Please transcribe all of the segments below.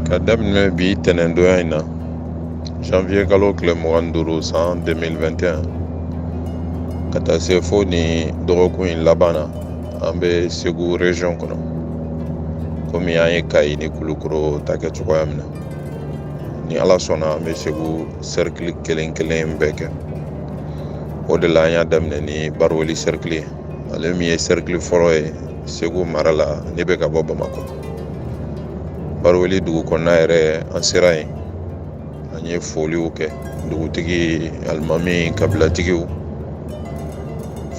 ka daminɛ bi tɛnɛndonya in na janvier kalo tile mugan duuru san 2021 ka taa se fo ni dɔgɔkun in laban na an bɛ segu region kɔnɔ komi an ye kayi ni kulukoro ta kɛ cogoya min na ni ala sɔnna an bɛ segu cercle kelen kelen bɛɛ kɛ o de la an y'a daminɛ ni baroweli cercle ye ale min ye cercle fɔlɔ ye segu mara la n'i bɛ ka bɔ bamakɔ baroweli dugu kɔnɔna yɛrɛ an sera yen an ye foliw kɛ dugutigi alimami kabilatigiw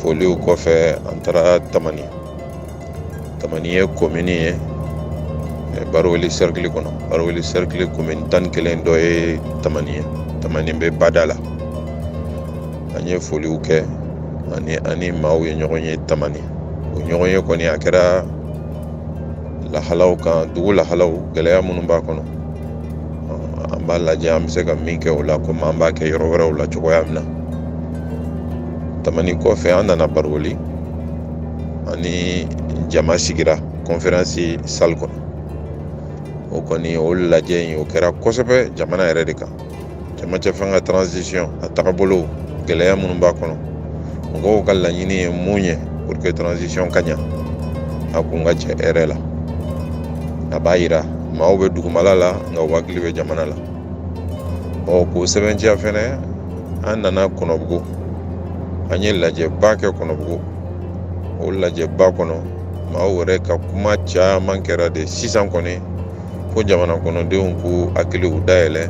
foliw kɔfɛ an taara tamani tamani ye komini ye baroweli sɛrikili kɔnɔ baroweli sɛrikili komini tan ni kelen dɔ ye tamani ye tamani bɛ bada la an ye foliw kɛ ani an ni maaw ye ɲɔgɔn ye tamani o ɲɔgɔnye kɔni a kɛra lahalaw kan dugu lahalaw gɛlɛya minnu b'a kɔnɔ an b'a lajɛ an bɛ se ka min kɛ o la komi an b'a kɛ yɔrɔ wɛrɛw la cogoya min na tamani kɔfɛ an nana baroweli an ni jama sigira kɔnferansi sali kɔnɔ o kɔni o lajɛ in o kɛra kosɛbɛ jamana yɛrɛ de kan cɛmancɛ fanga transition a tagabolo gɛlɛya minnu b'a kɔnɔ mɔgɔw ka laɲini ye mun ye pour que transition ka ɲa a kun ka cɛ hɛrɛ la a b'a yira maaw bɛ dugumala la nka u hakili bɛ jamana la o k'o sɛbɛntiya fɛnɛ an nana kɔnɔbugu an ye lajɛba kɛ kɔnɔbugu o lajɛba kɔnɔ maaw yɛrɛ ka kuma caman kɛra de sisan kɔni ko jamana kɔnɔdenw k'u hakiliw dayɛlɛ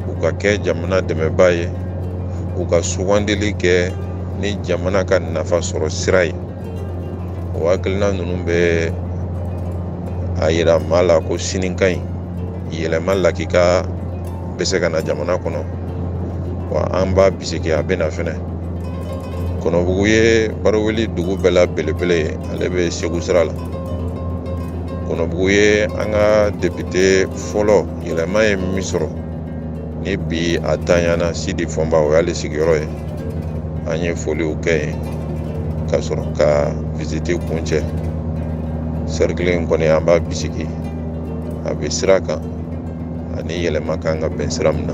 u ka kɛ jamana dɛmɛbaa ye u ka sugandili kɛ ni jamana ka nafa sɔrɔ sira ye o hakilina ninnu bɛ a yira maa la ko sini ka ɲi yɛlɛma lakika bɛ se ka na jamana kɔnɔ wa an b'a bisigi a bɛ na fɛnɛ kɔnɔbugu ye baroweli dugu bɛɛ la belebele ye ale bɛ segu sira la kɔnɔbugu ye an ka depite fɔlɔ yɛlɛma ye min sɔrɔ ni bi a tanyana sidi fɔnba o y'ale sigiyɔrɔ ye an ye foliw kɛ yen ka sɔrɔ ka visite kuncɛ sɛrikili in kɔni an b'a bisigi a bɛ sira kan a ni yɛlɛma kan ka bɛn sira min na